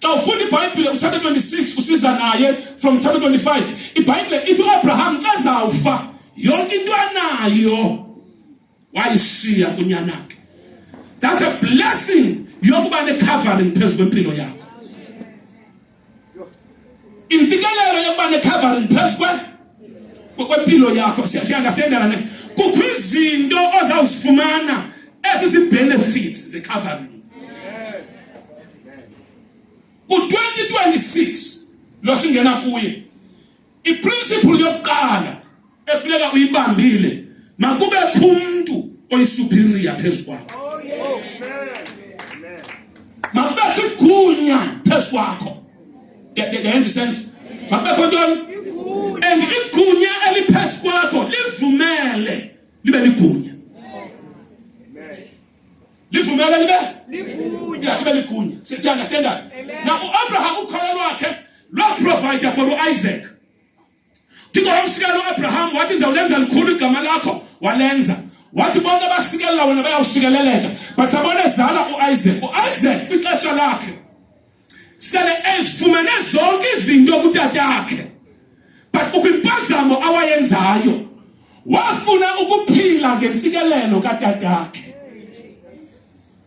xa ufunda ibhayibhile kuchapter 26 usiza naye from chapter 25 ibhayibhile ithi uabraham xa zawufa yonke into anayo wayishiya kunyanakhe that's a blessing yokuba necovering phezu kwempilo yakho intsikelelo yokuba necovering phezu kwempilo yakho siyandastendelana ne kukho izinto ozawuzifumana ezi zii-benefits ze-covering ku-2026 lo singena kuye iprinciple yokuqala efuneka uyibambile makube khumntu oyisuperior phezu kwakho makubekho igunya phezu kwakho ndenza isense makubekho ntoni and igunya eliphezu kwakho livumele libe ligunya livumela libe likunya libe likunya si understand that now uAbraham ukholo lwakhe lwa provide for uIsaac Thixo wamsikela uAbraham wathi nje ulenza likhulu igama lakho walenza wathi bonke abasikelela wena bayawusikeleleka but sabona ezala uIsaac uIsaac kwixesha lakhe sele ezifumene zonke izinto kutatakhe but ukwimpazamo awayenzayo wafuna ukuphila ngentsikelelo katatakhe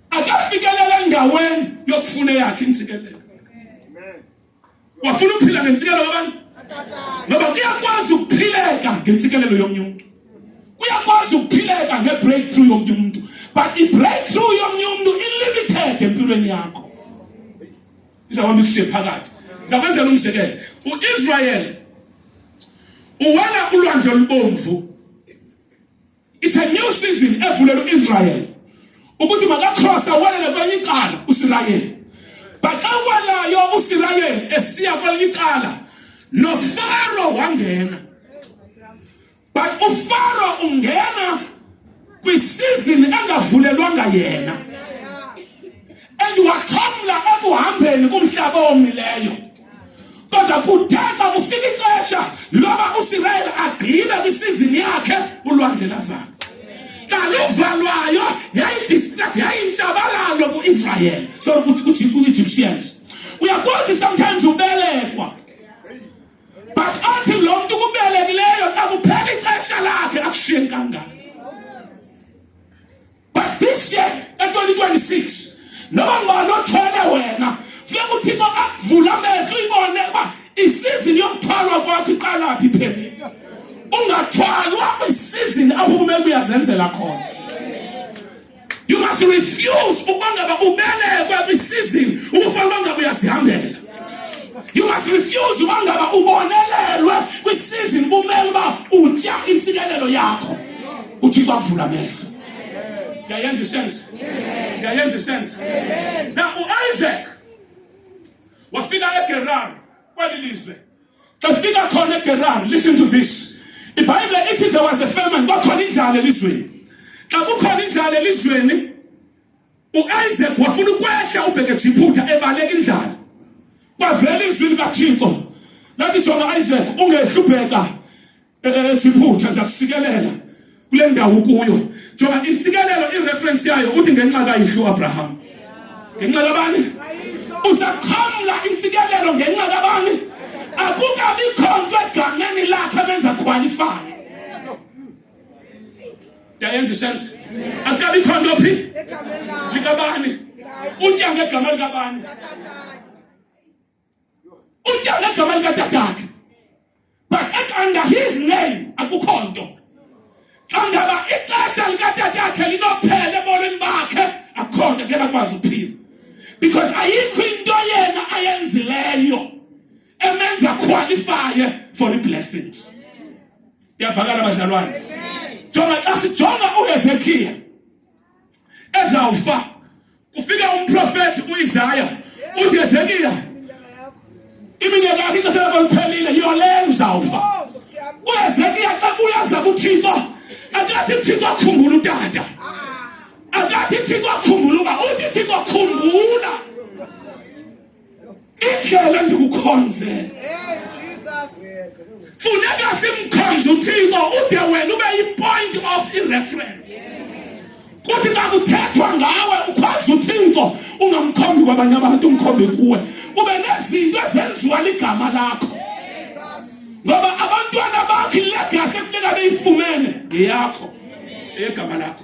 akafikelele endaweni yokufuna eyakhe intsikelelo wafuna ukuphila ngentsikelelo abantu ngoba kuyakwazi ukuphileka ngentsikelelo yomnye umntu kuyakwazi ukuphileka ngebreakthrough yomnye umntu but ibreakthrough yomnye umntu ilimited empilweni yakho izawuhamba ikushiye phakathi ndizakwenzela umzekelo uisrayeli uwela ulwandle olubomvu it's a new season evulela uisrayeli ukuthi makakrosa welele kwenye icala usirayeli but xa uwelayo usirayeli esiya kwelinye icala nofaro wangena but ufaro ungena kwisizini engavulelwanga yena and waxhamla ekuhambeni kumhlaba omileyo kodwa kuthe xa kufika ixesha loba usirayeli agqibe kwisizini yakhe ulwandle lavala xa luvalwayo yayidistract yayintshabalalo kuisrayeli so kuegyptians uyakwazi sometimes ubelekwa but athi lo mntu kubelekileyo xa kuphela ixesha lakhe akushiye kangaka but this year ka-2026 noba ngubani othwele wena funeka uthixo akuvula amehlo uyibone uba isizini yokuthwalwa kwakho iqalaphi iphelile ungathwalwa kwisizini apho kumele uyazenzela khona You must refuse ukuba ngaba ubelekwe kwisizini ubufana uba ngaba uyazihambela. You must refuse uba ngaba ubonelelwe kwisizini bumele uba utya intsikelelo yakho. Uthixo akuvula amehlo. Ndiyayenza isense. Ndiyayenza isense. Na uIsaac wafika eGerar kweli lizwe Efika khona eGerari, listen to this. IBhayibhile ithi there was a famine, kwakhona indlala elizweni. Xa kukhona indlala elizweni, uIsaac wafuna ukwehla ubheke jiphutha ebaleka indlala. Kwavela izwi likaThixo. Lathi jonga Isaac, ungehlupheka. ethi iphutha nje akusikelela kule ndawo kuyo njengoba intsikelelo ireference yayo uthi ngenxa kayihlo Abraham ngenxa kabani uzaqhamla intsikelelo ngenxa kabani akukabi khonto egameni lakhe benza qualify yayenza sense akukabi khonto phi likabani utya ngegama likabani Utyale egameni katatakhe but at under his name akukho nto xa ngaba ixesha likatatakhe linophela ebomini bakhe akukho nto ngeke akwazi ukuphila because ayikho into yena ayenzileyo emenza qualifye for i-blessings iyavakala bazalwane jonga xa sijonga uhezekiya ezawufa Kufika umprofeti uIsaya uthi Hezekiya iminyaka yakhe ixesha lakho liphelile yole uzawufa oh, uhezekiya xa kuyaza kuthixo akathi thixo akhumbula utata ah. akathi thixo akhumbula uba uthi thixo khumbula indlela endikukhonze funeka simkhonze uthixo ude wena ube yipoint of ireference kuthi xa kuthethwa ngawe ukhonze uthixo ungamkhombi kwabanye abantu umkhombi kuwe ube nezinto ezenziwa ligama lakho ngoba abantwana bakho ilegasi efuneka beyifumene ngeyakho egama lakho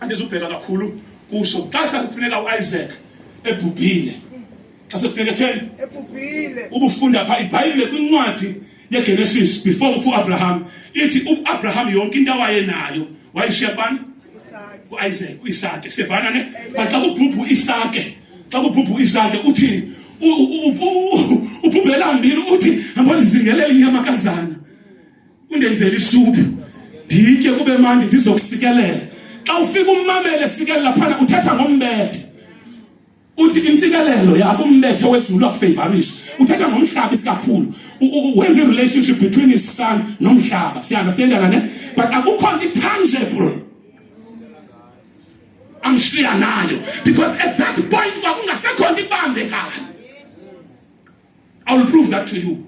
andizubheka kakhulu kuso xa sekufuneka uIsaac ebhubhile xa sekufuneka theni ebhubhile ubufunda pha ibhayibhile kwincwadi yeGenesis before kufu Abraham ithi uAbraham yonke into awayenayo wayishiya bani uIsaac uIsake sivana ne baxa kubhubhu uIsake xa kubhubhu uIsake uthini ubhubhelambili uthi hamba ndizingelele inyama kazana undenzele isuphu nditye kube mandi ndizokusikelela xa ufika ummamele sikelela phana uthetha ngombethe uthi intsikelelo yakho umbethe wezulu akufavorisha uthetha ngomhlaba isikakhulu wenza i-relationship between his son nomhlaba siunderstandana ne but akukho nto itangible amshiya nayo because at that point kwakungasekho nto ibambekayo I will prove that to you.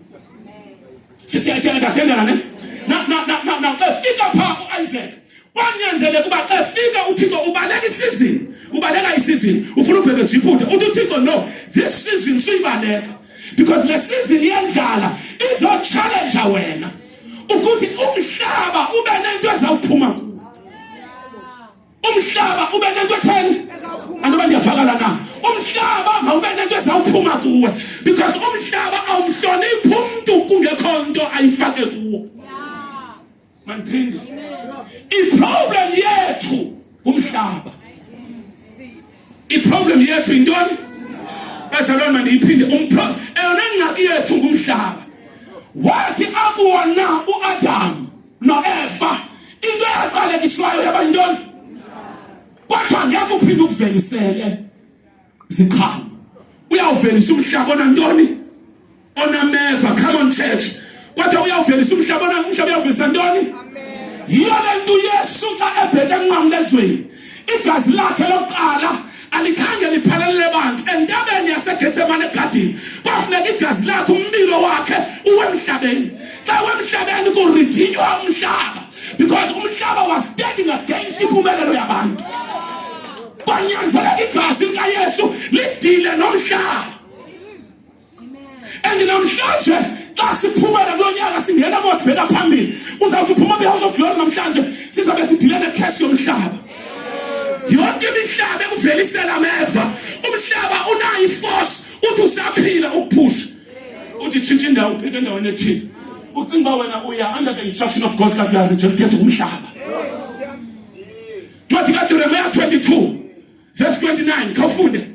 See, see, see, understand that, amen? Now, now, now, now, now, the figure part of Isaac. kwanyanzeleka uba xa fika uthixo ubaleka isizini ubaleka isizini ufuna ubhebeza iphutha uthi uthixo no this season suyibaleka because le sizini yendlala izotshalenja wena ukuthi umhlaba ube nento ezawuphuma kuwo umhlaba ube nento etheni andiba ndiyafakala na umhlaba mawube nento ezawuphuma kuwe because umhlaba awumhloniphi umntu kungekho nto ayifake kuwo mandiphinde iproblem yethu ngumhlaba iproblem yethu yintoni bazalwane mandiyiphinde eyona ngxaki yethu ngumhlaba wathi akuwona uadamu noeva into eyaqalekiswayo yaba yintoni kodwa ngeke uphinde ukuvelisele zikhalo uyawuvelisa umhlaba onantoni onameva come on church kodwa uyawuvelisa umhlaba onamhlaba uyawuvelisa ntoni yiyo le nto uyesu xa ebheke enqamlezweni igazi lakhe lokuqala alikhange liphelelele bantu entabeni yasegetsemane egadini kwafuneka igazi lakhe umlilo wakhe uwemhlabeni xa wemhlabeni kuridhinywa umhlaba because umhlaba was standing against impumelelo yabantu kwanyanzeleka igazi likayesu lidile nomhlaba and namhlanje xa siphumela kulo nyaka singena mo sibheka phambili uzawuthi uphuma kwihouse of glory namhlanje sizabe sidile nekhesi yomhlaba yonke imihlaba ekuvelisela ameva umhlaba unayo iforce uthi usaphila ukuphusha uthi tshintsha indawo upheke endaweni ethile ucinga uba wena uya under the instruction of god kakuyarithe kuthetha umhlaba ncwadi kajeremiya 22 verse 29 khawufunde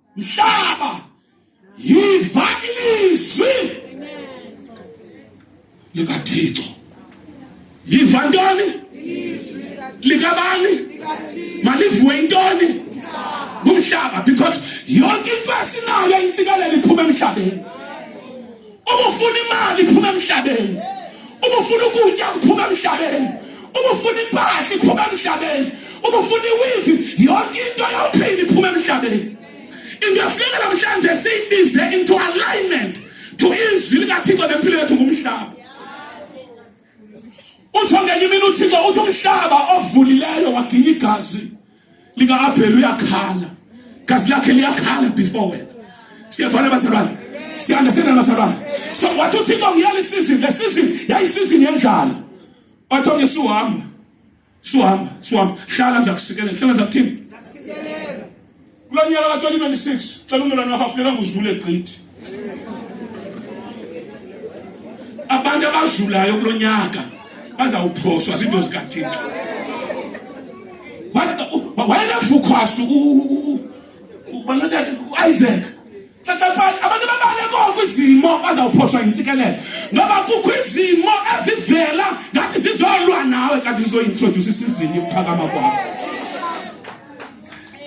Mhlaba, yiva ilizwi likaThixo. Yiva ntoni? Likabani? Malivuwe intoni? Ngumhlaba because yonke into esinayo intsikelelo iphuma emhlabeni. ubufuna imali iphuma emhlabeni ubufuna ukutya kuphuma emhlabeni ubufuna impahla iphuma emhlabeni ubufuna iwivi yonke into yophila iphuma emhlabeni into yafuneka namhlanje siyibize into alignment to izwi likathixo nempilo yethu ngumhlaba uthi ongenye imini uthixo uthi umhlaba ovulileyo waginya igazi likaabheli uyakhala gazi lakhe liyakhala before wena siyavana bazalwane siyandestenani bazalwane so wathi uthixo ngiyala isizini le sizini yayisizini yendlala wathi onye suhamba suhamba suhamba hlala ndiza kusikelela hlala ndiza kuthini kulo nyaka ka-2026 cela ummelwane wakho afuneka nguzivule gqithi abantu abazulayo kulo nyaka bazawuphoswa ziinto zikathixo wayenefukhwasu ubanotata uisaac xaxaphani abantu babale koko izimo bazawuphoswa yintsikelelo ngoba kukho izimo ezivela ngathi zizolwa nawe kanti zizoyintrodyusa isizini yokuphakama kwakho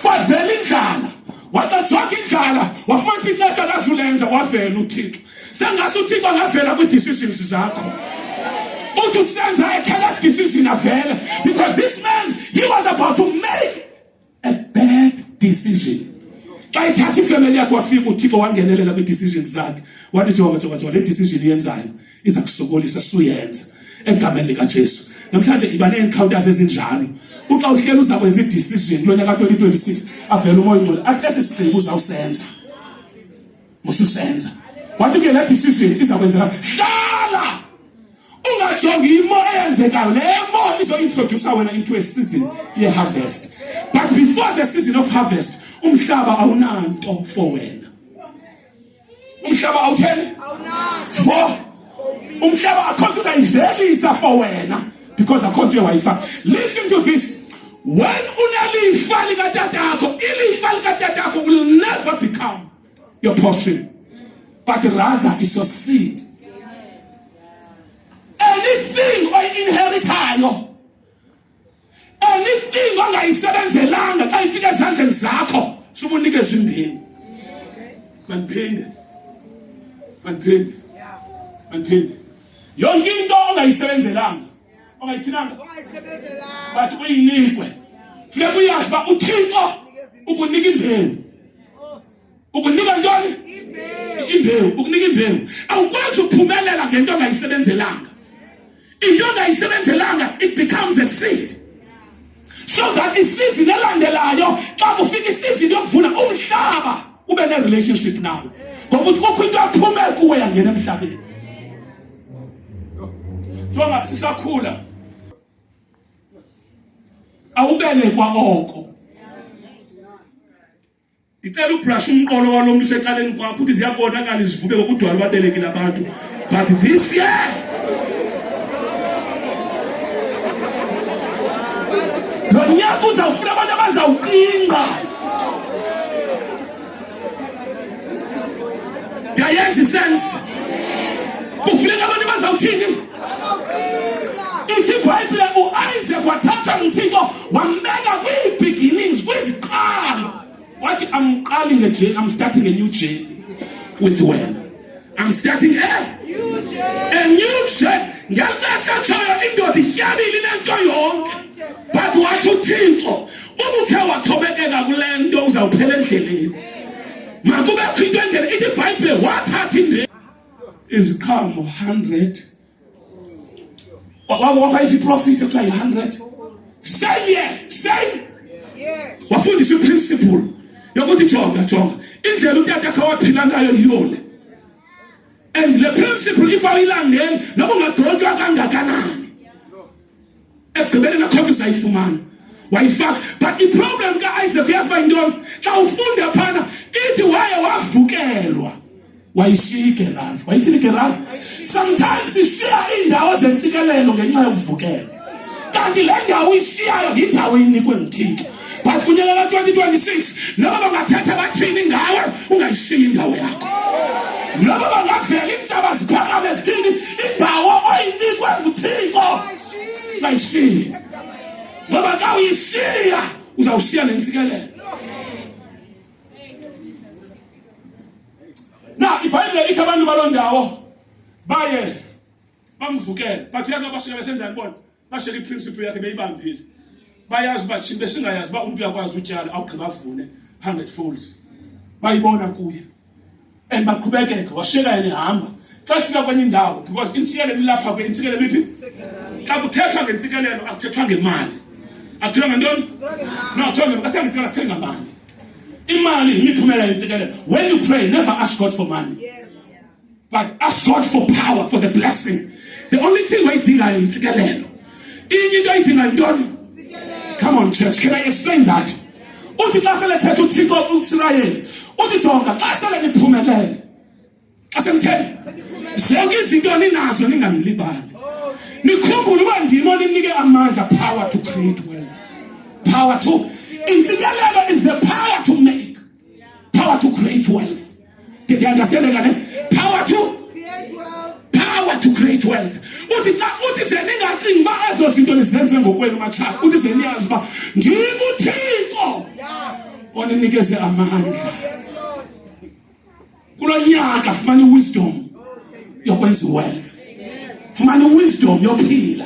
kwavela indlala waxajonga indlala wafumanisa ixesha lazulenza wavela uthixo sengase uthixo angavela kwii-decisions zakho uthi usenza a careless decision avele because this man he was about to make a bad decision xa ithatha ifemeli yakhe wafika uthixo wangenelela kwii-decisions zakhe wathi jonga jonga jonga le decision uyenzayo iza kusokolisa suyenza egameni likaJesu namhlanje iba neencounters ezinjalo uxa uhleli uza kwenza i-decision kulo nyaka 2026 avele umoya ongcwele athi esi sigqibo uzawusenza mususenza wathi ke le decision iza kwenzeka hlala ungajongi imo eyenzekayo le mo izointroduce wena into a season ye-harvest but before the season of harvest umhlaba awunanto for wena umhlaba awutheni for umhlaba akho nto uzayivelisa for wena because akho nto ewayifa listen to this when unelifa likatatakho ilifa likatatakho will never become your portion but rather it's your seed anything oyi-inheritayo anything ongayisebenzelanga xa ifika ezandleni zakho subunikeza imbini mandiphinde mandiphinde mandiphinde yonke into ongayisebenzelanga ongayithinanga but uyinikwe funeka uyazi uba uthixo ukunika imbeni ukunika ntoni imbewu ukunika imbewu awukwazi ukuphumelela ngento ongayisebenzelanga into ongayisebenzelanga it becomes a seed so that isizini elandelayo xa kufika isizini yokuvuna umhlaba ube ne-relationship nayo ngoba ukuthi kukho into yaphume kuwe yangena emhlabeni kuthiwa ngathi sisakhula awubelekwa oko ndicela ubrush umqolo walo mntu usecaleni kwakho ukuthi ziyabonakala izivube ngokudwala ubabelekile abantu but this year lo nyaka uzawufuna abantu abazawuqinga ndiyayenza isense kufuneka abantu bazawuthini ithi ibhayibhile uisaac wathatha mthixo wambeka kwii-beginnings kwiziqalo wathi amqali ngejeni am starting a new jeni with wena am starting a a new jeni ngexesha tshoyo indoda ityabile inento yonke but wathi uthixo ubukhe wathobekeka kule nto uzawuphela endleleni makubekho into endlela ithi ibhayibhile wathatha indela is come 100 wawapa hivi profit to 100 same year same wafundisa principle yokuthi jonga jonga indlela utata khawaphila ngayo yiyona and le principle if ayilandeli noba ungadontswa kangakanani ekugqibeleni akho nto uzayifumana wayifaka but iproblem kaisaac uyazi uba yintoni xa ufunda phana ithi waye wavukelwa wayishiya igerali wayithini igerali sometimes ishiya iindawo zentsikelelo ngenxa yokuvukelwa kanti le ndawo ishiyayo yindawo inikwe nguthixo but kunyaka ka-2026 noba bangathetha bathini ngawe ungayishiyi indawo yakho noba bangavela iintshaba ziphakame zithini indawo oyinikwe nguthixo ungayishiyi ngoba xa uyishiya uzawushiya nentsikelelo na ibhayibhile ithi abantu baloo ndawo baye bamvukele but uyazi babashiya besenjani bona bashela iprinciple yakhe beyibambile bayazi uba thina besingayazi uba umntu uyakwazi utyala awugqiba avune 100 folds bayibona kuye and baqhubekeka washiyeka yena ehamba xa fika kwenye indawo because intsikelelo ilapha kwe intsikelelo iphi xa kuthethwa ngentsikelelo akuthethwa ngemali akuthethwa ngentoni no akuthethwa ngemali akuthethwa ngentsikelelo sithenga mali imali yimiphumela yentsikelelo when you pray never ask god for money yes. but ask God for power for the blessing. The only thing I did I intikalelo. Inye I did I done. Come on church, can I explain that? Uthi xa sele thetha uThixo uIsrael, uthi jonga xa sele niphumelele. Xa semthele. Zonke izinto ninazo ningamlibali. Nikhumbule uba ndim oninike amandla power to create wealth. Power to insikelelo is the power to make Power to create wealth. Did you understand that? Eh? Power to create wealth. Power to create wealth. Uthi xa uthi ze ningacingi uba ezo zinto nizenze ngokwenu matshaba. Uthi ze niyazi uba ndim uThixo oninikeze amandla. Oh, Kulo nyaka fumana i-wisdom yokwenza wealth. Fumana i-wisdom yophila.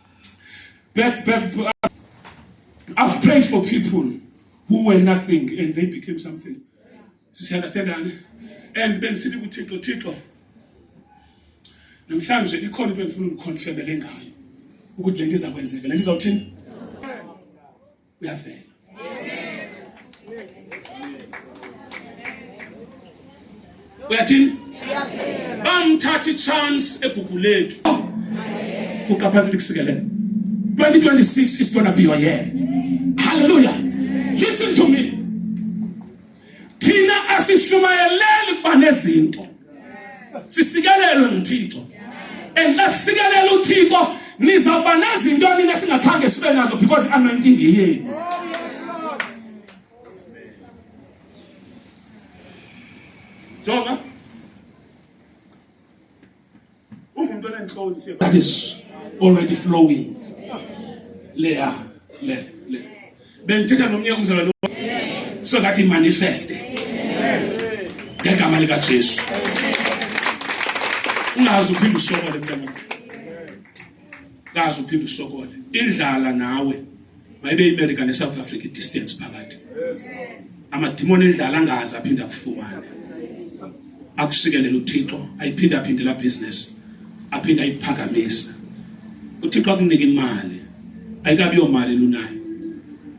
But, but uh, I've prayed for people who were nothing and they became something. Sisi understand ani? And ben sithi kuThixo Thixo namhlanje ikhona into engifuna ukukhonfemele ngayo ukuthi le nto iza kwenzeka le nto izawuthini uyavela uyathini bamthatha ichance egugu lethu kuqaphansi likusikelele 2026 is going to be your year hallelujah listen to me thina asishumayeleli ukuba nezinto sisikelelwe nguthixo and xa sisikelela uthixo nizawuba nezinto nina singakhange sibe nazo because i-anointing yeyenu Jonah ungumntu onentloni that is already flowing leya le le bendithetha nomnye umzalwane so that imanifeste ngegama likajesu ungazi uphinde usokole mntanam kazi uphinde usokole indlala nawe mayibe iAmerica neSouth Africa distance phakathi amadimoni endlala angazi aphinde akufumane akusikelela uThixo ayiphinde aphinde la business aphinde ayiphakamisa uThixo akunika imali ayikabi yomali lunayo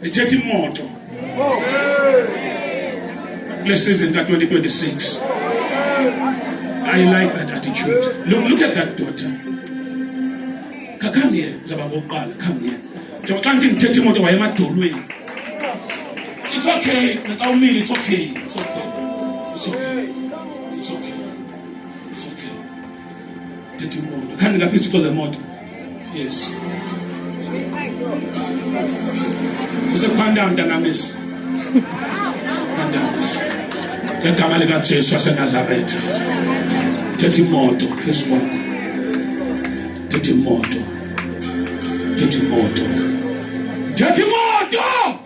ndithetha imoto kule season ka-2026 i like that attitude look, look at that daughter khakhanye uzaba ngokuqala khanye njengoba xa ndithi ndithetha imoto wayemadolweni it's okay naxa umile it's okay it's okay it's okay tetimoto khandi ngapha izithixo zemoto yes sisekhwandayo mntanamisi sisekhwandayoisi ngegama likajesu wasenazaretha thetha imoto phezu kwakho thetha imoto thetha imoto thetha imoto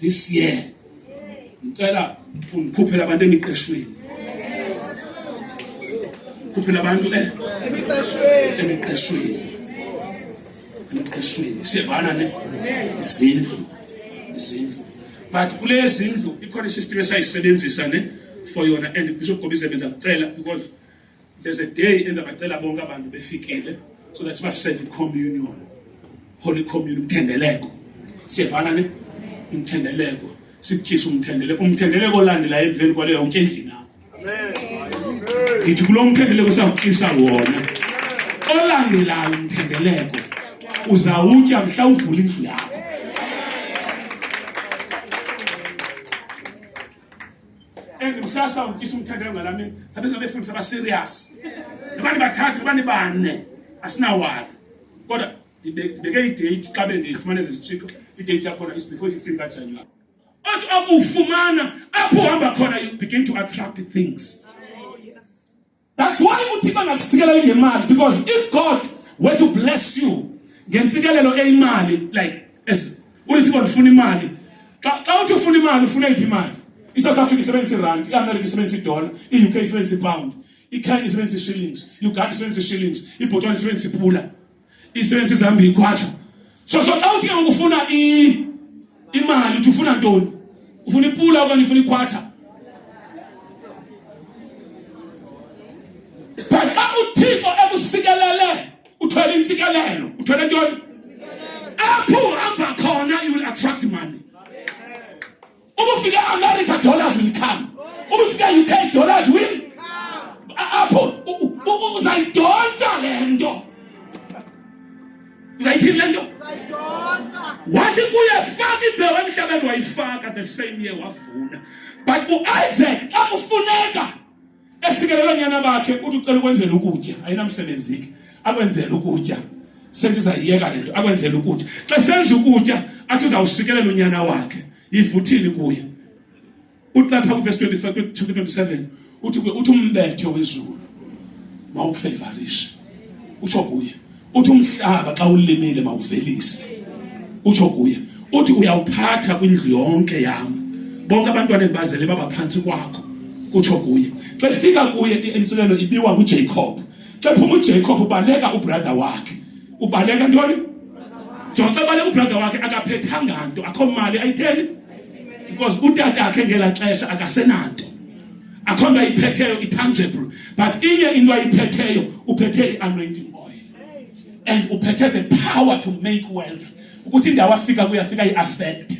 this year ngicela ungikhuphele abantu emiqeshweni khuphela abantu eh emiqeshweni emiqeshweni emiqeshweni siyevana ne izindlu izindlu but kule zindlu ikhona isystem esayisebenzisa ne for yona and bishop gobize benza kucela because there's a day enza bacela bonke abantu befikile so that sibaseve communion holy communion umthendeleko siyevana ne umthendeleko sikutyisa umthendeleko umthendeleko olandela emveni kwaleyo utya endlini yakho ndithi kulo mthendeleko sawutyisa wona olandelayo umthendeleko uzawutya mhla uvula indlu yakho and kusasa ujisa umthandela ngalami sabe singabefundisa aba serious nobani bathathu nobani bane asinawari kodwa ndibeke idate xa bendiyifumana ezizitshixo idate yakhona is before 15 kajanuwari othi okufumana apho uhamba khona you begin to attract things That's why uThixo angakusikela ingemali because if God were to bless you ngentsikelelo eyimali like as uThixo ndifuna imali xa xa uthi ufuna imali ufuna iphi imali iSouth Africa isebenzisa irand iAmerica isebenzisa idola iUK isebenzisa ipound iKenya isebenzisa ishillings iUganda isebenzisa ishillings iBotswana isebenzisa ipula isensi zihamba ikhwasha so so xa uthi ke ngokufuna imali uthi ufuna ntoni ufuna ipula okanye ufuna ikhwatsha but xa uthixo ekusikelele uthwele intsikelelo uthwele ntoni apho uhamba khona you will attract money ubufika America dollars will come ubufika UK dollars will apho uzayidonsa lento uzayithini lento wathi kuye faka imbewu emhlabeni wayifaka the same year wavuna but uIsaac xa kufuneka esikelela onyana bakhe uthi ucela ukwenzela ukutya ayinamsebenzi ke akwenzela ukutya sentu uzayiyeka lento akwenzela ukutya xa senza ukutya athi uzawusikelela unyana wakhe yivuthini kuye uthi lapha kuverse 25 27 uthi uthi umbethe wezulu mawukufevarishe utsho kuye uthi umhlaba xa ulimile mawuvelise utsho kuye uthi uyawuphatha kwindlu yonke yam bonke abantwana endibazele baba phantsi kwakho kutsho kuye xa efika kuye intsulelo ibiwa ngujacob xa ephuma ujacob ubaleka ubrother wakhe ubaleka ntoni jonga xa ebaleka ubrother wakhe akaphethanga nto akho mali ayitheni because utata akhe ngela xesha akasenanto akho nto ayiphetheyo itangible but inye into ayiphetheyo uphethe i-anointing oil and uphethe the power to make wealth ukuthi indawo afika kuyafika i-affect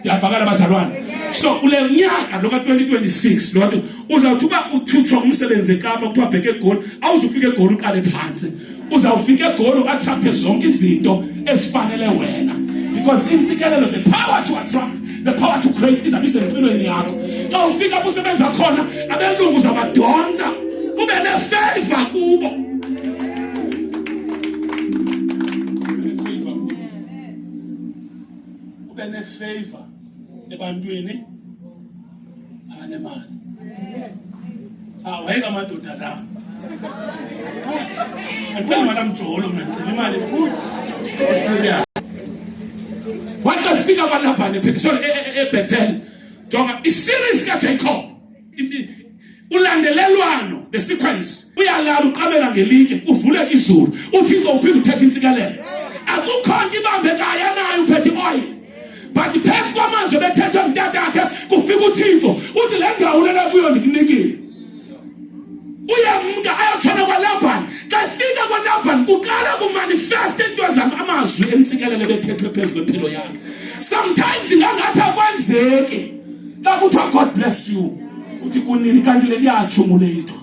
ndiyavakala abazalwane so kule nyaka lo ka-2026 loo nto uzawuthi uba uthutshwa ngumsebenzi ekapa kuthiwa bheke egoli awuzufika egoli uqale phantsi uzawufika egoli attracte zonke izinto ezifanele wena because intsikelelo the power to attract the power to create izabe isempilweni yakho xa ufika apho usebenza khona abelungu uzawubadonsa ube nefeva kubo ube nefeva ebantwini anemali ah, wayeka amadoda la andicela imali amjolo mna ndicela imali serious watofika abalabhane phethe ebethel jonga isiris kajacob ulandelelwano the sequence uyalala uqabela ngelinje kuvuleka izulu uthixo uphinde uthetha intsikelelo akukho nto ibambekayo anayo uphethe ioyile but phezu kwamazwi ebethethwe mntatakhe kufika uthixo uthi le ndawo lena kuyo ndikunikile uyamntu ayotshona kwalabhani kafika kwalabhani kuqala kumanifesta into zam amazwi entsikelelo ebethethwe phezu kwempilo yakhe sometimes ngangathi akwenzeki xa kuthiwa god bless you uthi kunini kanti le ndiyatshumu leyitho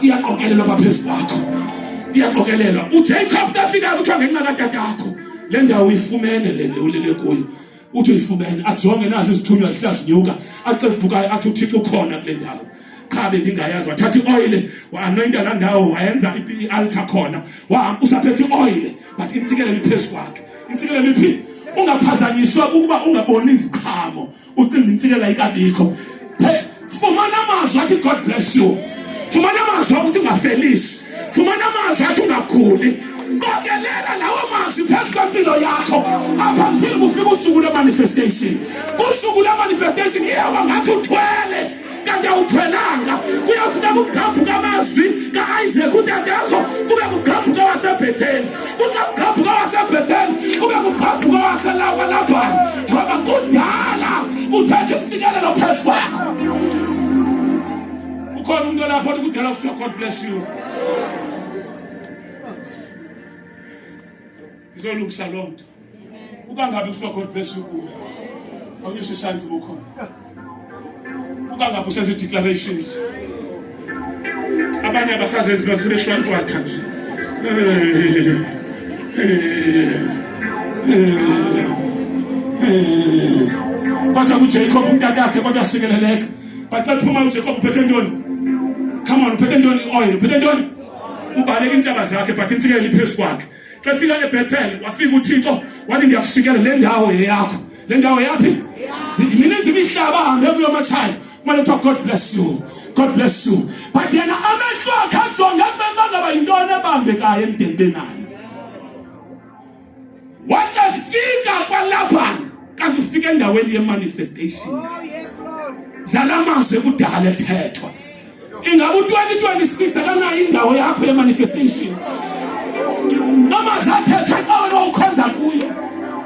iyaqokelelwa apha phezu kwakho iyaqokelelwa ujacob tafika kuthiwa ngenxa katatakho le ndawo uyifumene le ulele kuyo uthi uyifumene ajonge nazi izithunywa zihlazinyuka axe vukayo athi uthixo ukhona kule ndawo qha bendingayazi wathatha ioyile waanoyinta laa ndawo wayenza ialtar khona wahamba usaphethe ioyile but intsikelelo iphezu kwakhe intsikelelo iphi ungaphazanyiswa kukuba ungaboni iziqhamo ucinga intsikela ikabikho fumana amazwi athi god bless you fumana amazwi akuthi ungafelisi fumana amazwi athi ungaguli qokelela lawo mazwi phezu kwempilo yakho apha mthini kufika usuku lwemanifestation usuku lwemanifestation iyawa ngathi uthwele kanti awuthwelanga kuyawufuneka ukugabhuka amazwi ka-isaac utatakho kube kugabhuka wasebhetheli kungagabhuka wasebhetheli kube kugabhuka waselawa labhani ngoba kudala uthethe umtsikelelo phezu kwakho ukhona umntu olapho othi kudala kuthiwa god bless you ngizolungisa loo nto uba ngabe kuthiwa god bless you kuwe awunyusa isandla ubukhona uba ngabe usenza i-declarations abanye abasazenzi basebeshwantshwatha nje kodwa kujacob umntatakhe kodwa sikeleleka but xa phuma ujacob uphethe ntoni come on uphethe ntoni i-oil uphethe ntoni ubaleka iintshaba zakhe but intsikelelo iphezu kwakhe xa fika ebethel wafika uthixo wathi ndiyakusikela le ndawo yeyakho le ndawo yaphi mininzi imihlaba ahambe kuyo matshaya kumane kuthiwa god bless you god bless you but yena amehlo akhe ajonge bebangaba yintoni ebambekayo emdeni benayo watafika kwalapha kanti ufika endaweni ye-manifestations oh, zala mazwi ekudala ethethwa Ingaba u-2026 akanayo indawo yakho yemanifestation amazwi athethwa xa wena ukhonza kuyo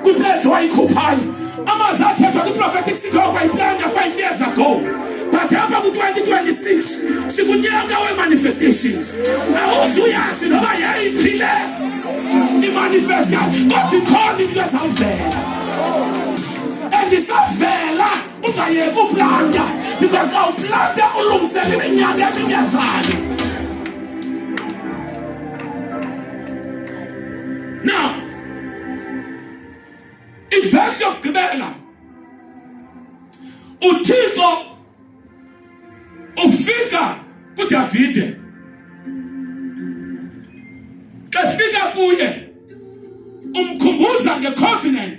kwipledge wayikhuphayo amazwi athethwa kwiprophetic seed wakho wayiplanda five years ago but apha ku-2026 sikunyaka wemanifestations awuzuyazi noba yayiphi le imanifesta kodwa ikhona into ezawuvela and isavela ungayeki ublanda because xa ublanda ulungisela iminyaka emingezali now ivesi yokugqibela uthixo ufika kudavide xa fika kuye umkhumbuza ngecovenant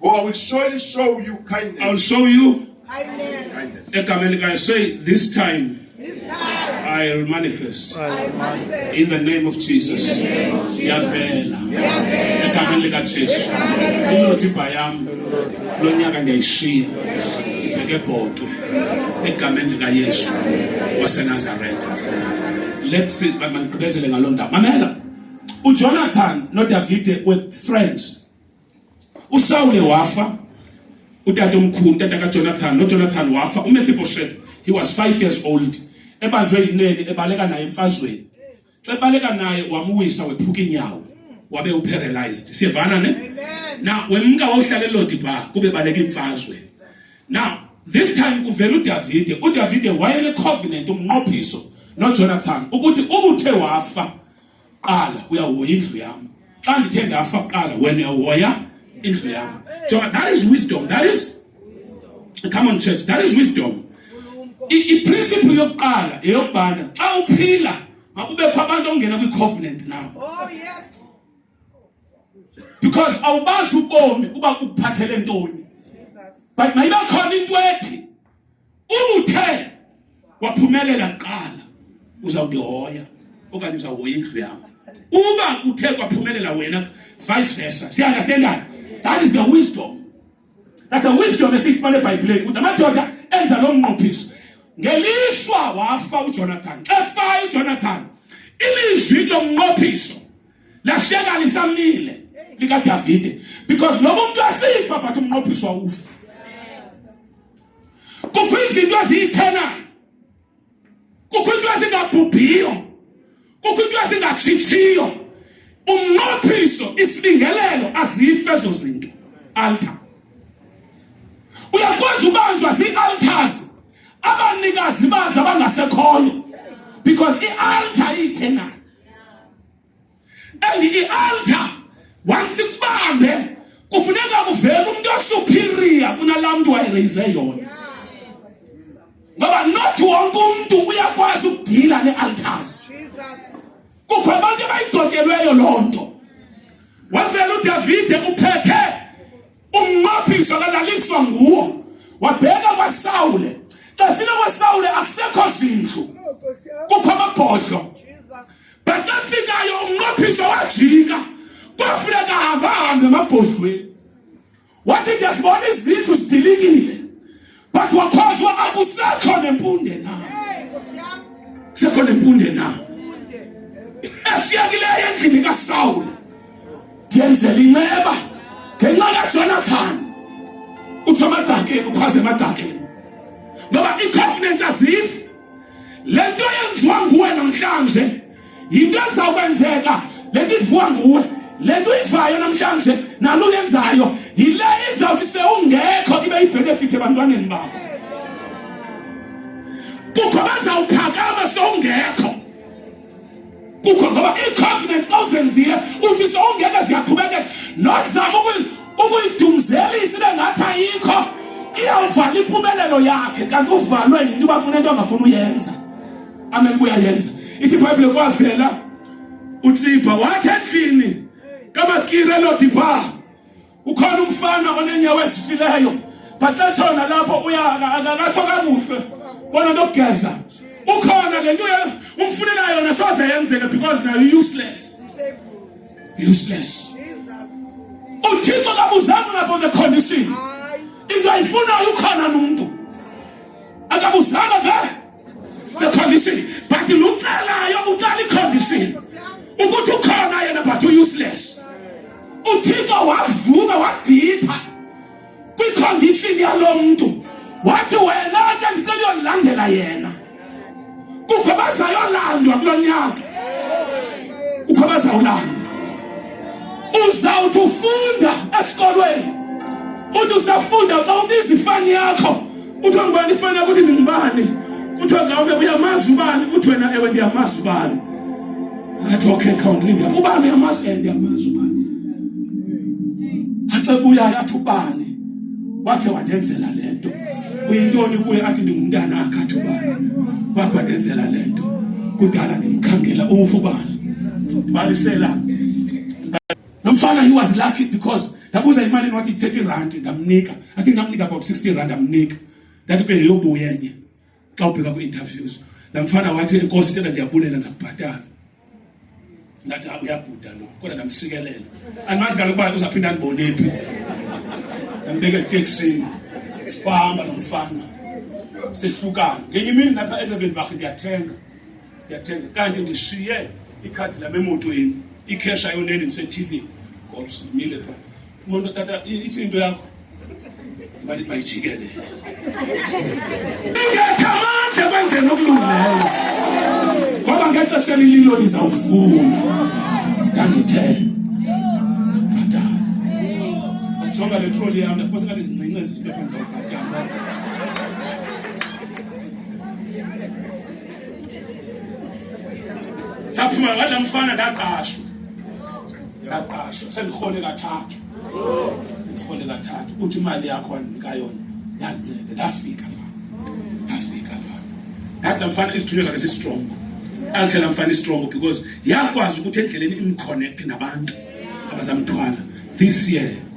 Oh, I will surely show you kindness. I'll show you kindness. kindness. Ekamelikai, say, this time. This time. I'll manifest. I manifest. In the name of Jesus. In the name of Jesus. Yavela. Yavela. Ekameni lika Jesu. Inodibha yam. Lo nyaka ndiyayishiya. Bekebhodwe. Egameni lika Yesu. WaseNazaretha. Let's see, mandigqibezele ngaloo ndawo. Mamela. UJonathan noDavide were friends. usawule wafa utata omkhulu utata kajonathan nojonathan wafa umefibosheth he was five years old ebanjwe yinene ebaleka naye emfazweni xa ebaleka naye wamuwisa wephuka inyawo wabe uparalyzed siyevana ne na wemka wawuhlala elodi pha kube baleka imfazwe now this time kuvela udavide udavide wayenecovenant umnqophiso nojonathan ukuthi ubuthe wafa qala uyahoya indlu yam xa ndithe ndafa qala wena uyahoya indlu yam jonga that is wisdom that is come on church that is wisdom iprinciple yokuqala eyokubana xa uphila makubekho abantu ongena kwi-covenant nawo oh, because awubazi ubomi uba ukuphathele ntoni but mayibe khona into ethi Umuthe waphumelela kuqala uza kundihoya okanye uzawuhoya indlu yam uba kuthe kwaphumelela wena vice versa siunderstandani that is the wisdom that's a wisdom esiyifumana ebhayibhileni ukuthi amadoda enza lo mnqophiso ngelishwa wafa ujonathan xa efa ujonathan ilizwi lomnqophiso lashiyeka lisamile likadavide because lo muntu asifa but umnqophiso wawufa kukho izinto eziyithanayo kukho into ezingabhubhiyo kukho into ezingatshitsiyo umnqophiso isibingelelo azife ezo zinto altar uyakwazi ubanjwa zii-altars abanikazi bazo abangasekhoyo because i-altar iyithengayo and i-altar once ikubambe kufuneka kuvele umuntu osuperior kunalaa mntu wayereyize yona ngoba not wonke umntu uyakwazi ukudila nee-altars kukho abantu abayidotyelweyo loo nto wavela udavide uphethe Ummaphiso akalaliswa nguwo wabheka kwaSawule xa fika kwaSawule akusekho zindlu kukho amabhodlo but xa fikayo umnqophiso wajika kwafuneka hamba hambe emabhodlweni wathi ndiyazibona izindlu zidilikile but wakhozwa akusekho nempunde na sekho nempunde na esiyakileyo endlini kasawula ndiyenzela inceba ngenxa kajonathani uthi amadakeni ukhwaze emadakeni ngoba i-covenant azifi le nto yenziwa nguwe namhlanje yinto ezawukwenzeka le nto ivuwa nguwe le nto uyivayo namhlanje nalo uyenzayo yile izawuthi sewungekho ibe yibhenefithi ebantwaneni bakho kukho bazawuphakama sowungekho kukho ngoba ii-covenants ozenzile uthi sowungeke ziyaqhubekeka nozama ukuyidumzelisa ibe ngathi ayikho iyawuvala impumelelo yakhe kanti uvalwe yinto uba kunento angafuni uyenza amen kuyayenza ithi ibhayibhile kwavela utsibha wathi endlini kamakire lodipha ukhona umfana onenyawo ezifileyo but xa tshona lapho uyakakatho kakuhle bona nto kugeza ukhona le nto umfunela yona soze yenzeka because nayo useless useless uthixo kabuzanga ngabo the condition into ayifunayo ukhona nomntu akabuzanga ke ekhombisini but lucelayo utalikhombisini ukuthi ukhona yena but u-useless uthixo wavuka wagipha kwikhondishini yalo mntu wathi wena ke ndicela uyondilandela yena kukho bazayolandwa kulo nyaka kukho bazawulandwa uzawuthi ufunda esikolweni uthi usafunda xa ubiza ifani yakho kuthiwa ngubani ifanele ukuthi ndingubani kuthiwa ngawube uyamazi ubani kuthi wena ewe ndiyamazi ubani athi okay khawundilinde ubani uyamazi ewe eh, ndiyamazi ubani athi ebuyayo athi ubani wakhe wandenzela le nto uyintoni kuye athi ndingumntana akhe athi ubani wakhe wandenzela le nto kudala ndimkhangela uwufa ubani balisela Lo mfana he was lucky because ndabuza imali enwathi 30 rand ndamnika. I think ndamnika about 60 rand ndamnika. Ndathi ke yobuya enye. Xa ubheka ku interviews. La mfana wathi inkosi icela ndiyabulela ndizakubhatala. Ngathi ah, uyabhuda lo. Kodwa ndamsikelela. Andimazi kaloku uba uzaphinda ndibone phi. Ndambeka esiteksini. Wahamba nomfana. Sehlukana. Ngenye imini lapha eSevenvach ndiyathenga. ndiyathenga kanti ndishiye ikhadi lam emotweni ikhesha yoneni ndisethivini ngoba simile pha umuntu tata ithi into yakho mali bayijike le ingetha amandla kwenzeni okulungileyo ngoba ngexesha elililo lizawufuna ndandithe bhatala ajonga le troli yam ndafose ngathi zincince zinto ephantsi okubhatala saphuma wathi la mfana ndaqashwa ndaqashwa sendirhole kathathu ndirhole kathathu uthi imali yakho wandinika yona yandincede ndafika pha ndafika pha ndathi la mfana izithunywa zakhe zistrongo alithela la mfana istrongo because yakwazi ukuthi endleleni imconnect nabantu abazamthwala this year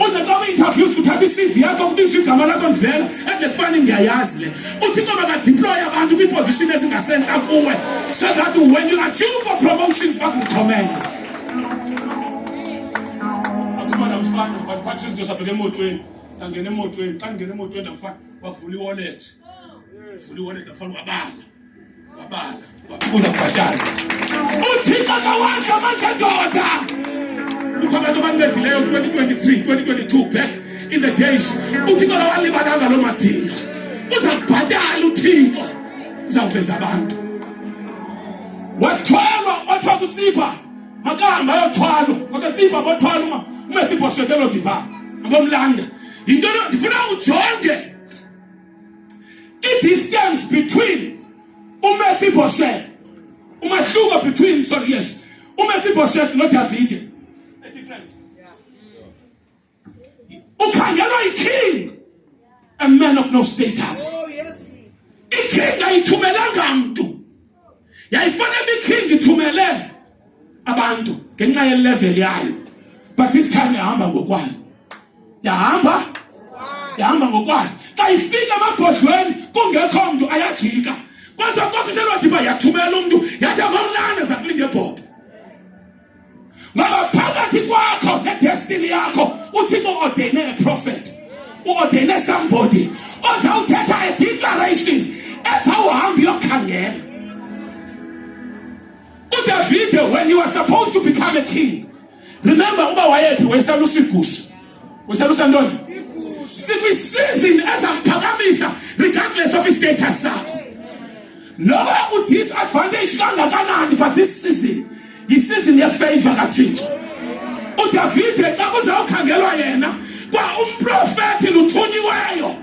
uze kwaba interviews kuthatha i-cv yakho kubizwa igama lakho livela endlesifani ndiyayazi le uthixo makadiploye abantu kwiiposition ezingasentla kuwe so that when you are due for promotions bakukhomela akumana mfana batiphathisa izinto sabheka emotweni ndangena emotweni xa ndingena emotweni ndamfana wavula iwallet vula iwallet ndamfana wabala Babala, bakuza kubhatala. UThixo kawazi amandla ndoda. Kukho abantu abancedileyo 2023, 2022 back in the days. UThixo kawalibalanga loo madinga. Uza kubhatala uThixo. Uzawuveza abantu. Wathwalwa, wathwa kutsipa. Makahamba ayothwalwa. Kodwa tsipa bothwalwa uma umefiphoshekelo diva. Ngomlanda. Yinto ndifuna ujonge I-distance between uMephibosheth umahluko between sorry yes uMephibosheth noDavide a difference ukhangelwa iking a man of no status oh, yes. iking ayithumelanga mntu yayifanele ikhingi ithumele abantu ngenxa yelevel yayo but this time yahamba ngokwayo yahamba yahamba ngokwayo xa ifika emabhodlweni kungekho mntu ayajika kodwa kodwa uselwadibha yathumela umntu yathi amamnane zakulinge ebhodo ngoba phakathi kwakho nedestiny yakho uthixo uordeyine a prophet uordeyine somebody ozawuthetha a declaration ezawuhamba uyokhangela udavide when you were supposed to become a king remember uba wayephi wayesalusigusha uselusa ntoni sikwisizini ezakuphakamisa regardless of istatus sakho noba udisadvantage kangakanani but this season yisizini yefavor kathixo udavide xa kuzawukhangelwa yena kwa umprofethi luthunyiweyo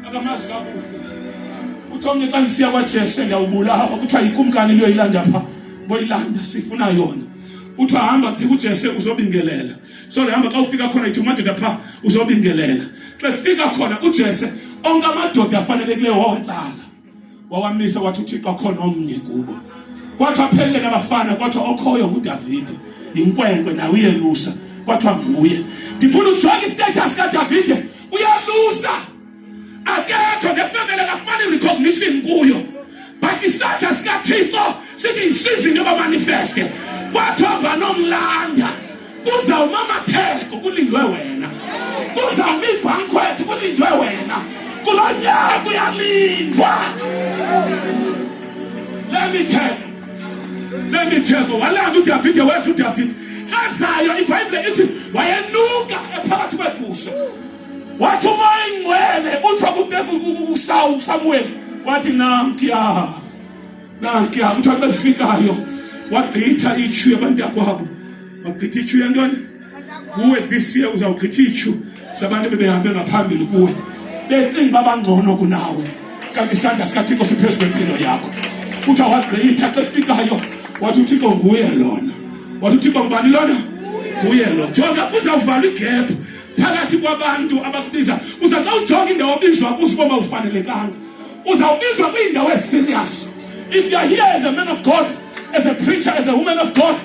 akamazi kakuhle kuthiwa mnye xa ndisiya kwajesu ndiyawubulawa kuthiwa yikumkani liyoyilanda pha boyilanda sifuna yona kuthiwa hamba kuthi kujesu uzobingelela so ndihamba xa ufika khona ithi umadoda phaa uzobingelela xa efika khona ujese onke amadoda afanelekileyo wawatsala wawamisa wathi uthixo akhona omnye kubo kwathiwa aphelele nabafana kwathiwa okhoyo ngudavide yinkwenkwe nawe uyelusa kwathiwa nguye ndifuna ujonge istatus kadavide uyalusa akekho nefemele kafumani recognition kuyo but isandla sikathixo sithi yisizi into bamanifeste kwathiwa banomlanda kuzawuma amatheko kulindwe wena kuzawuma iibhankwethu kulindwe wena kulo nyaka uyalindwa lemitheko lemitheko walanda udavide weza udavide ezayo ibhayibhile ithi wayenuka ephakathi kwegusha wathi umoya ingcwele utsho kusamuweli wathi nankuya nankuya kuthiwa xa efikayo wagqitha itshu yabantu yakwabo wagqitha itshu yantoni kuwe this year uzawugqitha itshu zabantu bebehambe ngaphambili kuwe becinga uba bangcono kunawe kanti isandla sikathixo siphezu kwempilo yakho kuthiwa wagqitha xa efikayo wathi uthixo nguye lona wathi uthixo ngubani lona nguye lo jonga kuzawuvala igebhu phakathi kwabantu abakubiza uza xa ujonga indawo obizwa kuzo uba mawufanelekanga uzawubizwa kwiindawo eziserious if you are here as a man of god as a preacher as a woman of god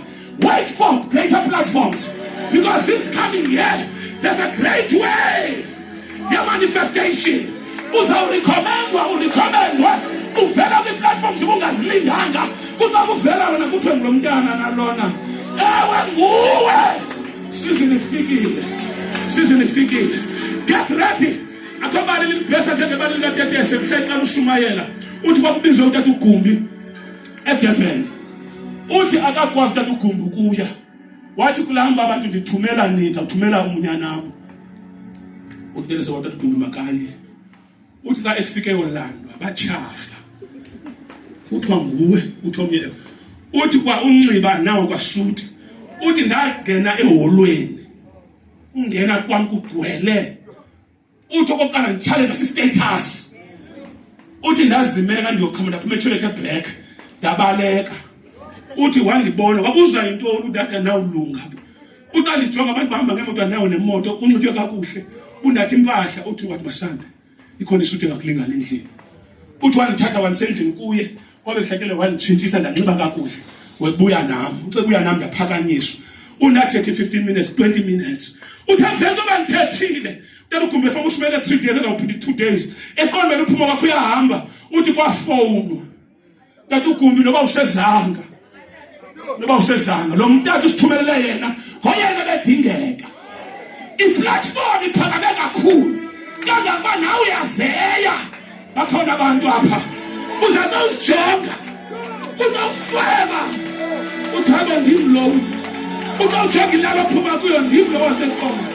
wait for greater platforms because this coming year there's a great wave yemanifestation uzawurikhomendwa urikhomendwe uvela kwi-platforms ubungazilinganga kunoba uvela wena kuthiwe ngulo mntana nalona ewe nguwe Sizwe lifikile, sizwe lifikile. Get ready. Akho bali limbhesa njengebali likatetese mhla iqala ushumayela. Uthi kwakubizwe utata ugumbi eDurban. Uthi akakwazi utata ugumbi ukuya. Wathi kulahamba abantu ndithumela nitha, thumela umunyanam. Utetese watata ugumbi makanye. uthi xa efike yolandwa batshafa kuthiwa nguwe uthi omnye uthi kwa unxiba nawo kwasuti uthi ndangena eholweni ungena kwam kugcwele uthi okokuqala nditshaleka sistatus uthi ndazimele ngandiyoxhoma ndaphuma etoilet eblack ndabaleka uthi wandibona wabuzwa yintoni udata nawulunga Uthi andijonga abantu bahamba ngemoto nayo nemoto unxitywe kakuhle unathi impahla uthi wathi masanda ikhona isuti engakulingana endlini uthi wandithatha wandisendlini kuye kwabe kuhlakele wanditshintshisa ndanxiba kakuhle webuya nam ucebuya nam ndaphakanyiswa unathethi 15 minutes 20 minutes uthi avele uba ndithethile tena ugumbe efaka ushumele 3 days ezawuphinda i-2 days eqondweni uphuma kwakho uyahamba uthi kwafowunwa tata ugumbi noba usezanga noba usezanga lo mntata usithumelele yena ngoyena bedingeka iplatform iphakame kakhulu kangangoba nawe uyazeya bakhona abantu apha uza nozijonga unofeba uthabe ndim lowo unowujonga ilalo phuma kuyo ndim lowo wasenkonzo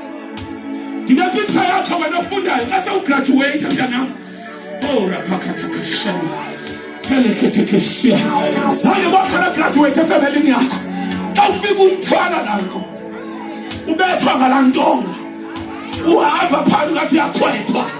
ndinepiktsha yakho wena ofundayo xa sewugraduweyitha mntanam oh raphakhathakashana phelekhethekesiya zange bakhona graduweyithe efemelini yakho xa ufika umthwala lanto ubethwa ngala ntonga uhamba phana ungathi uyakhwethwa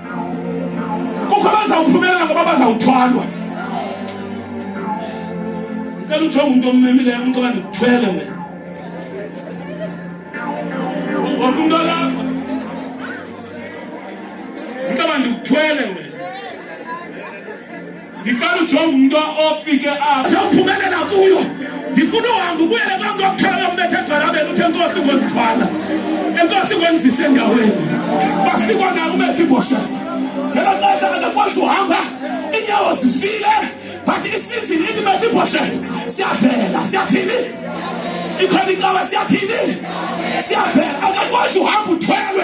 kukho abazawuphumelela ngoba bazawuthwalwa ndicela ujonga umntu ommemileyo umntu oba ndikuthwele wena wonke umntu olapha umntu oba ndikuthwele wena ndicela ujonge umntu ofike apha siyawuphumelela kuyo ndifuna uhambe ubuyele kulaa mntu wakukhela yombetha egqalabeni uthe enkosi ngondithwala enkosi ngondizise endaweni kwasikwa nako ubefibhoshana ngelo xesha akakwazi uhamba iinyawo zifile but isizini ithi befibhoshana siyavela siyathini ikhona icawa siyathini siyavela akakwazi uhamba uthwelwe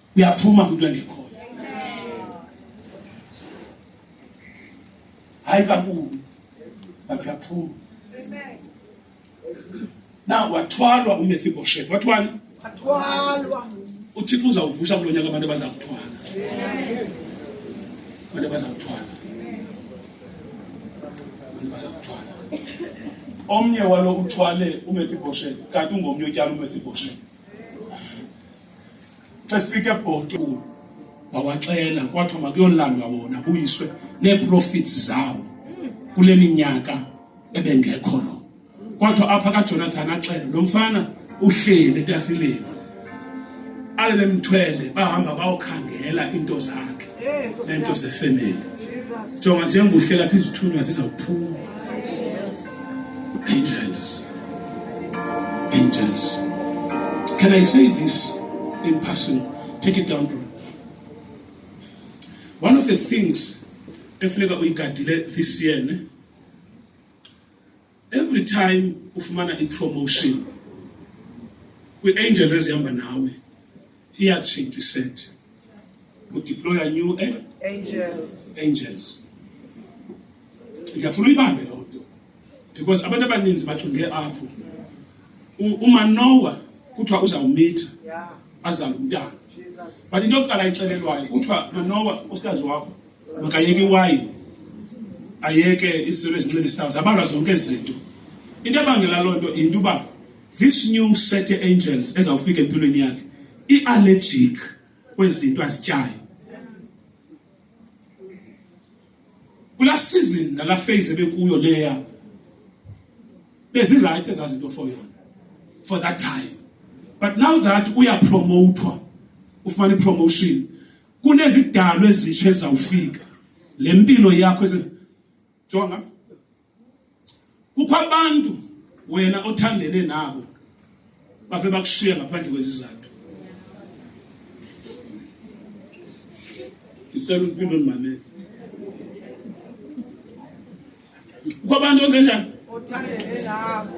uyaphuma kwinto engekhoyo hayi kakubi but uyaphuma na wathwalwa umethiboshethi wathwani uthixo uzawuvusa kulo nyaka abantu abaza kuthwala abantu abaza kuthwala abantu abaza kuthwala omnye walo uthwale umethiboshethi kanti ungomnye otyala umethiboshethi xa sifika ebhoto wawaxela kwathiwa makuyolandwa wona buyiswe neeprofits zawo kule minyaka ebengekho lo kwathiwa apha kajonathan axele lo mfana uhleli etafileni alele mthwele bahamba bayokhangela into zakhe nento zefemeli jonga njengobuhlela phi izithunywa zizawuphuma Angels. Angels. Can I say this in person? Take it down, bro. One of the things ekufuneka uyigadile this year ne? every time ufumana ipromotion kwi-angel ezihamba nawe iyatshintsha iset udeploya new eh? angels angels ndiyafuna uyibambe loo nto because abantu abaninzi bajonge apho umanowa kuthiwa uzawumitha azale umntana but into yokuqala ixelelwayo kuthiwa manowa usikazi wakho makayeke iwayini ayeke izinto ezincelisayo zabalwa zonke ezi zinto into ebangela loo nto yinto uba this new set of angels ezawufika empilweni yakhe iallergic kwezinto azityayo kula season nala phase ebekuyo leya bezirayithi ezazinto for yona for that time but now that uyapromotwa ufumana ipromotion kunezidalwa ezitsha ezawufika le mpilo yakho jonga kukho abantu wena othandene nabo bave bakushiya ngaphandle kwezizathu ngicela umpilo ndimamele kukho abantu onzenjani othandene nabo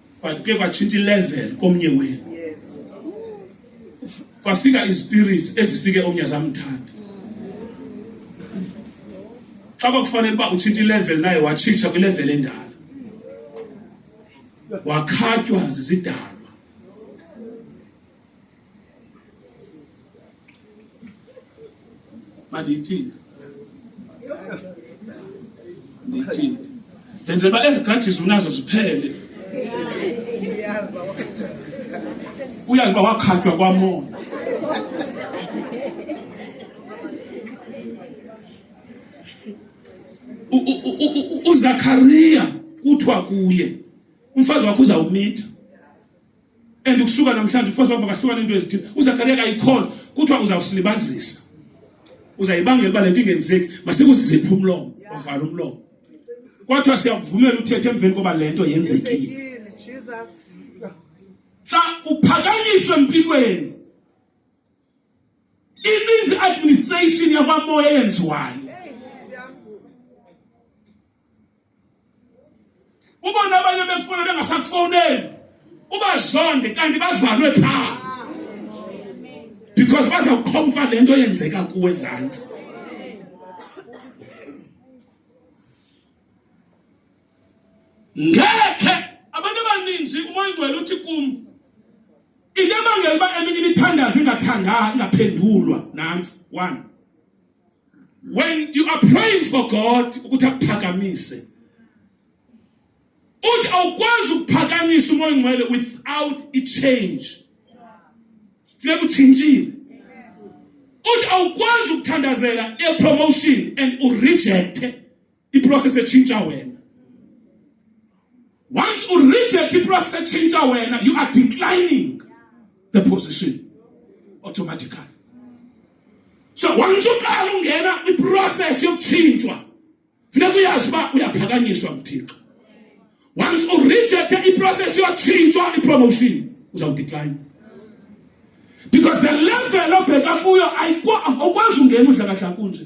but kuye kwatshintsha ilevel komnye wenu kwafika ispirits ezifike omnye zamthanda xa kwakufanele uba utshintsha ilevel naye watshitsha kwilevel endala wakhatywa zizidalwa mandiyiphinde ndiyiphinde ndenzela uba ezi grudges unazo ziphele uyazi uba wakhatywa kwamona uZakariya kuthiwa kuye umfazi wakho uzawumitha and ukusuka namhlanje ufosa ukuba kahlukane into ezithile uzakariya kayikhona kuthiwa uzawusilibazisa uzayibangela uba le nto ingenzeki masikuziphe umlomo wavala umlomo kwathiwa siyakuvumela uthethe emveni koba le nto yenzekile xa uphakanyiswe empilweni ininzi administration yakwamoya eyenziwayo ubona abanye bekufona bengasakufowuneli ubazonde kanti bavalwe phaa because bazawukhomfa le nto yenzeka kuwe ezantsi ngekhe abantu abaninzi umoya ongcwele uthi kum into ebangela uba eminye imithandazo ingathanda ingaphendulwa nantsi one when you are praying for god ukuthi akuphakamise uthi awukwazi ukuphakamisa umoya ongcwele without a change funeka utshintshile uthi awukwazi ukuthandazela epromotion and urejecte iprocess etshintsha wena once u reject iprocess etshintsha wena you are declining the position automatically so once uqala ungena kwiprocess yokutshintshwa funeka uyazi uba uyaphakanyiswa nguthixo once u reject iprocess yokutshintshwa ipromotion uzawudecline because the level obheka kuyo ayikwazi ungena udlakahlaka kunje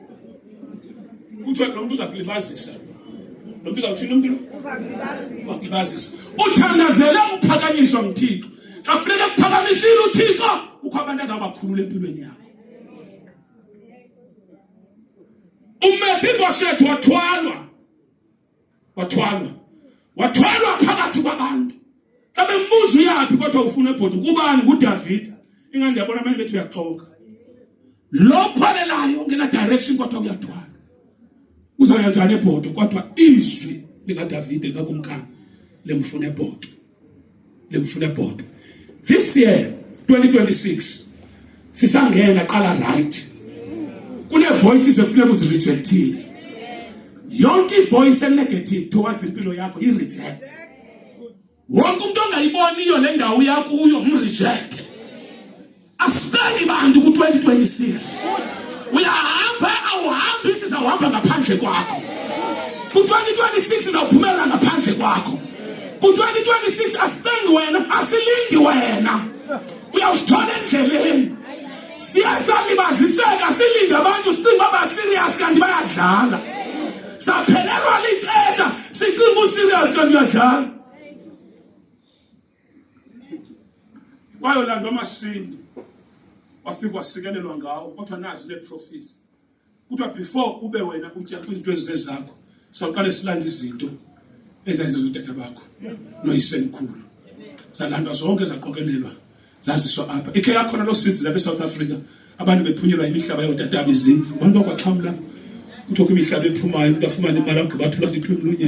kuthiwa lo mntu uza kulibazisa lo mntu uzawuthini umntu wakulibazisa uthandazele ukuphakanyiswa nguthixo xa kufuneka kuphakamisile uthixo kukho abantu azawubakhulula empilweni yakho umefibosethu wathwalwa wathwalwa wathwalwa phakathi kwabantu xa bembuza uyaphi kodwa ufuna ebhodi kubani ngudavida ingani ndiyabona amanye bethu uyaxoka lo khwalelayo ngena direction kodwa uyathwala uzawuya njani ebhodo kodwa izwi likadavide likakumkani lemfuna ebhodo limfune bhodwa this year 2026 sisangena qala right kune voices efuneka uzirejectile yonke ivoice enegative towards impilo yakho i reject wonke umuntu ongayiboniyo le ndawo yakuyo mreject Asithengi bantu ku-2026 uyahamba awuhambi sizawuhamba ngaphandle kwakho ku-2026 sizawuphumelela ngaphandle kwakho ku-2026 asithengi wena asilindi wena uyawusithola endleleni siye salibaziseka silinde abantu sicinga abaserious kanti bayadlala saphelelwa lixesha sicinga userious kanti uyadlala bayolandwa amasindi wafika wasikelelwa ngawo kodwa nazi le profits kuthiwa before ube wena utya kwizinto ezizezakho sawuqale silanda izinto ezayizezwa udada bakho noyisemkhulu zalandwa zonke zaqokelelwa zaziswa apha ikhe yakhona loo sizi lapha esouth africa abantu bephunyelwa imihlaba yootatabo izindlu abantu bakwaxhamla kuthiwa kwimihlaba ephumayo umntu afumane imali agqiba athula athi thwe mlunye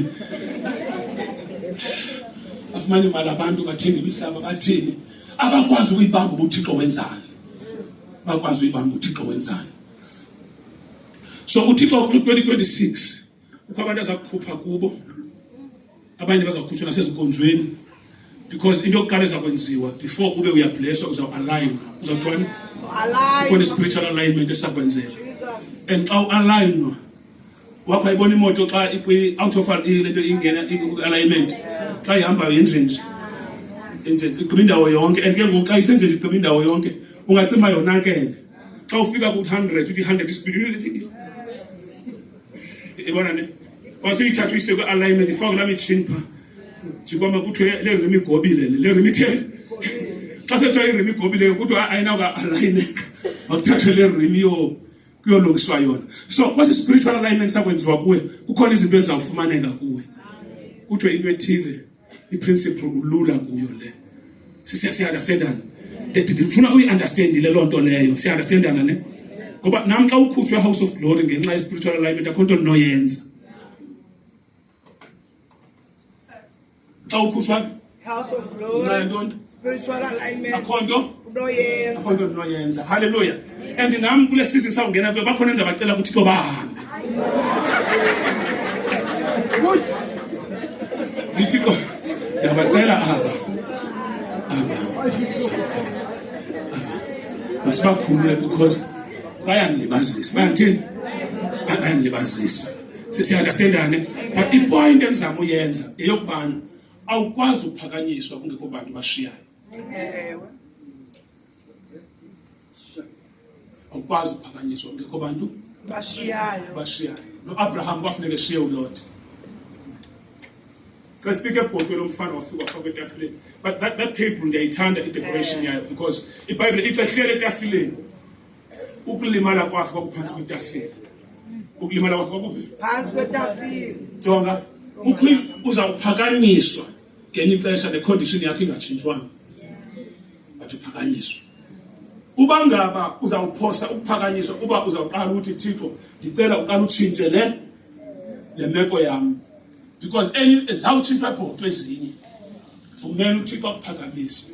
afumane imali abantu bathenga imihlaba bathini abakwazi ukuyibamba uba uthixo wenzani bakwazi uyibamba uthixo wenzani so uthixo ku-2026 kukho abantu azakukhupha kubo abanye bazakukhutshwa nasezinkonzweni because into yokuqala ezakwenziwa before ube uyableswa uzawualign uzawuthwani khona i-spiritual alignment esakwenzeka and xa ualignwa wakho ayibona imoto xa ikwi-out of le nto ingena alignment xa ihambayo yenjenje enjenje igqiba indawo yonke and ke ngoku xa isenjenje igqiba indawo yonke ungacima yonakele xa ufika ku-hundred uthi i-hundred ispeed ibona ne wasiyithatha uyise kwi-alignment ifake laa mitshini phaa jikwama kuthiwe le rim igobile le le rim itheni xa sekuthiwa irim igobile kuthiwa ayinawuka alayineka makuthathwe le rim yo kuyolungiswa yona so kwesi spiritual alignment sakwenziwa kuwe kukhona izinto ezizawufumaneka kuwe kuthiwe into ethile iprinciple ulula kuyo le siyaunderstandana ndifuna uyiunderstandile loo nto leyo siyaunderstandana ne ngoba nam xa ukhutshwe house of glory ngenxa ye-spiritual alignment akho nto ndinoyenza xa ukhutshwa spiritual alignment akho nto unoyenza akho nto ndinoyenza halleluya and nam kule season sawungena kuyo bakhona enza bacela kuthixo bahambe ndithi ko ndiyabacela aba aba masibakhulule because bayandilibazisa bayandithini bayandilibazisa siyaunderstandane but ipoint endizama uyenza yeyokubana awukwazi uphakanyiswa kungekho bantu bashiyayo ewe awukwazi uphakanyiswa kungekho bantu bashiyayo bashiyayo noabraham kwafuneka eshiye ulota xa sifika ebhotweni umfana wafika wafaka etafileni but that, that table ndiyayithanda idecoration yayo because ibhayibhile ixa hlele etafileni ukulimala kwakhe kwakuphantsi kwetafile ukulimala kwakhe kwakuphi phantsi kwetafile jonga kukho uzawuphakanyiswa ngenye ixesha necondition yakho ingatshintshwanga but uphakanyiswa uba ngaba uzawuphosa ukuphakanyiswa uba uzawuqala uthi thixo ndicela uqala utshintshe le le meko yam because enye zawutshintshwa ibhoto ezinye vumela uthixo akuphakamise